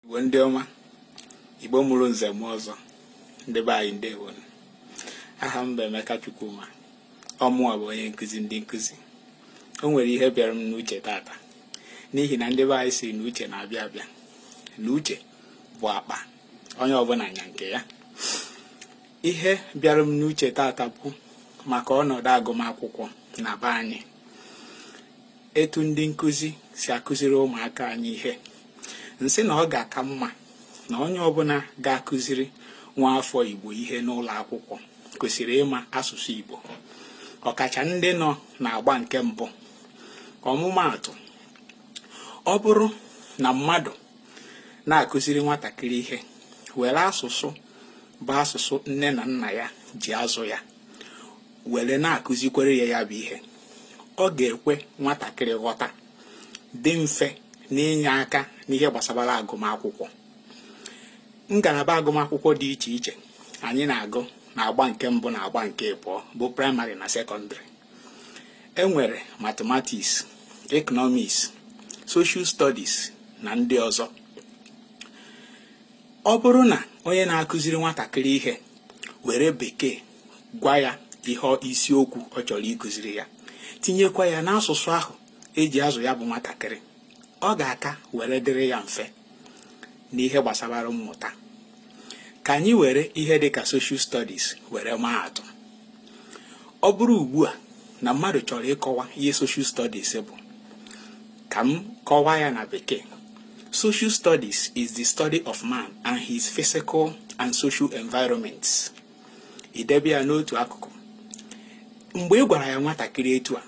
Igbo ndị ọma Igbo mụrụ nze mụọ ọzọ ndị be anyị ndewo aha m bụ Emeka Chukwuma ọ mụwa bụ onye nkụzi ndị nkụzi o nwere ihe bịara m n'uche tata n'ihi na ndị be anyị sị na uche na-abịa abịa na uche bụ akpa onye ọbụla nya nke ya ihe bịara m n'uche tata bụ maka ọnọdụ agụmakwụkwọ na be anyị etu ndị nkụzi si akụziri ụmụaka anyị ihe m sị na ọ ga-aka mma na onye ọbụla ga-akụziri nwa afọ Igbo ihe n'ụlọ akwụkwọ kwesịrị ịma asụsụ Igbo ọkacha ndị nọ n'agba nke mbụ ọmụmaatụ ọ bụrụ na mmadụ na-akụziri nwatakịrị ihe were asụsụ bụ asụsụ nne na nna ya ji azụ ya were na-akụzikwere ya ya bụ ihe ọ ga-ekwe nwatakịrị ghọta dị mfe n'inye aka n'ihe gbasabara agụmakwụkwọ ngalaba agụmakwụkwọ dị iche iche anyị na-agụ na agba nke mbụ na agba nke abụọ bụ primary na secondary e nwere mathematics economics social studies na ndị ọzọ ọ bụrụ na onye na-akụziri nwatakịrị ihe were bekee gwa ya ihe isiokwu ọ chọrọ ịkụziri ya tinyekwa ya n'asụsụ ahụ e ji azụ ya bụ nwatakịrị ọ ga-aka were dịrị ya mfe n'ihe gbasabara mmụta ka anyị were ihe dị ka social studies were maa atụ ọ bụrụ ugbu a na mmadụ chọrọ ịkọwa ihe social studies bụ ka m kọwaa ya na bekee social studies is the study of man and his physical and social environments i debe ya n'otu akụkụ mgbe ị gwara ya nwatakịrị etu a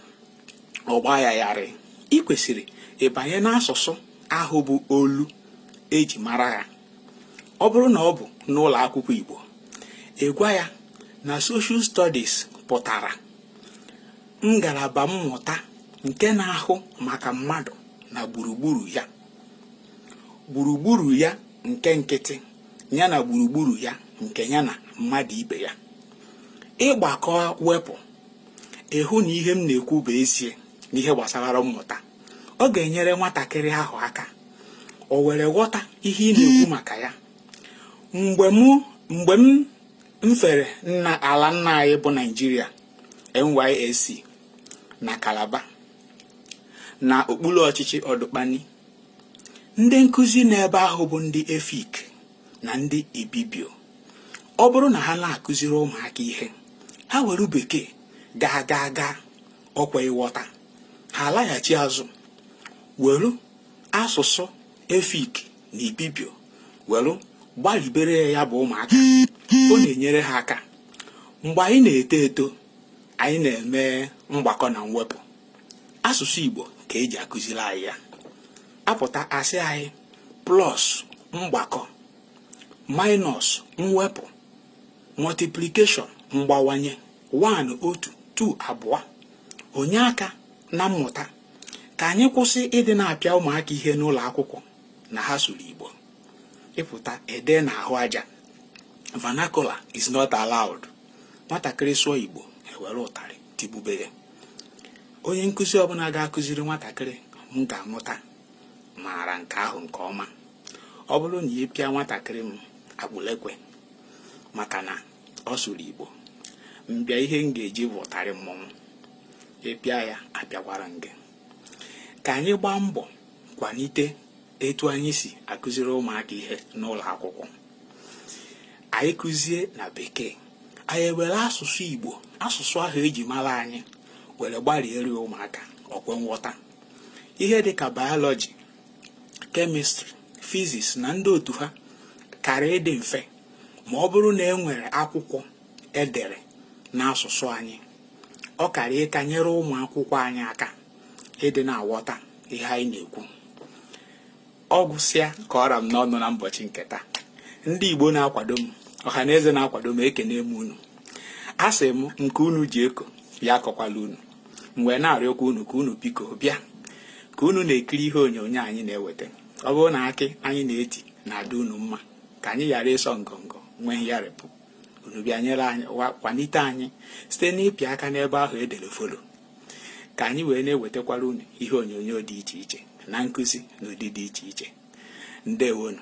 ọ gbaa ya yarị ị kwesịrị ịbanye n'asụsụ ahụ bụ olu e ji mara ya ọ bụrụ na ọ bụ n'ụlọ akwụkwọ Igbo ị gwa ya na social studies pụtara ngalaba mmụta nke na-ahụ maka mmadụ na gburugburu ya gburugburu ya nke nkịtị ya na gburugburu ya nke ya na mmadụ ibe ya ị gbakọọ wepụ ị hụ na ihe m na-ekwu bụ ezie n'ihe gbasabara mmụta ọ ga-enyere nwatakịrị ahụ aka o were ghọta ihe ị na-ekwu maka ya mgbe m fere nna ala nna anyị bụ Naijiria NYSC na Calabar na okpuru ọchịchị Odukpani ndị nkụzi n'ebe ahụ bụ ndị efik na ndị ibibio ọ bụrụ na ha na-akụziri ụmụaka ihe ha were bekee gaa gaa gaa ọkwa ịghọta ha alaghachi azụ were asụsụ efik na ibibio were gbaribere ya bụ ụmụaka ọ na-enyere ha aka mgbe anyị na-eto eto anyị na-eme mgbakọ na mwepụ asụsụ igbo ka eji akụziri anyị ya a pụta a sị anyị plus mgbakọ minus mwepụ multiplication mgbawanye 1 otu 2 abụọ o nye aka na mmụta ka anyị kwụsị ịdị na-apịa ụmụaka ihe n'ụlọ akwụkwọ na ha sụrụ igbo ị pụta e dee n'ahụ aja vernacular is not allowed nwatakịrị sụọ igbo e were ụtarị tigbube onye nkụzi ọbụla ga-akụziri nwatakịrị m ga-amụta maara nke ahụ nke ọma ọ bụrụ na ị pịa nwatakịrị m akpụlekwe maka na ọ sụrụ igbo m bịa ihe m ga-eji bụ ụtarị mmọnwụ ị pịa ya apịakwara m gị ka anyị gbaa mbọ kwalite etu anyị si akụziri ụmụaka ihe n'ụlọ akwụkwọ anyị kụzie na bekee anyị ewere asụsụ igbo asụsụ ahụ eji mara anyị were gbariere ụmụaka o kwe nghọta ihe dịka biology chemistry physics na ndị otu ha kara ịdị mfe ma ọ bụrụ na e nwere akwụkwọ edere n'asụsụ anyị ọ kara ịka nyere ụmụ akwụkwọ anyị aka ịdị na-aghọta ihe anyị na-ekwu ọ gwụsịa ka ọ ra m n'ọnụ na mbọchị nke taa ndị Igbo na-akwado m ọha na eze na-akwado m ekene m unu a sị m nke unu ji eko ya akọkwala unu m ga na-arịọkwa unu ka unu biko bịa ka unu na-ekiri ihe onyonyo anyị na-eweta ọ bụrụ na akị anyị na-eti na-adị unu mma ka anyị ghara ịsọ ngọngọ nwee ngharịpụ unu bịa nyere anyị kwalite anyị site n'ịpị aka n'ebe ahụ edere follow ka anyị wee na-ewetakwara unu ihe onyonyo dị iche iche na nkụzi n'ụdị dị iche iche ndewonu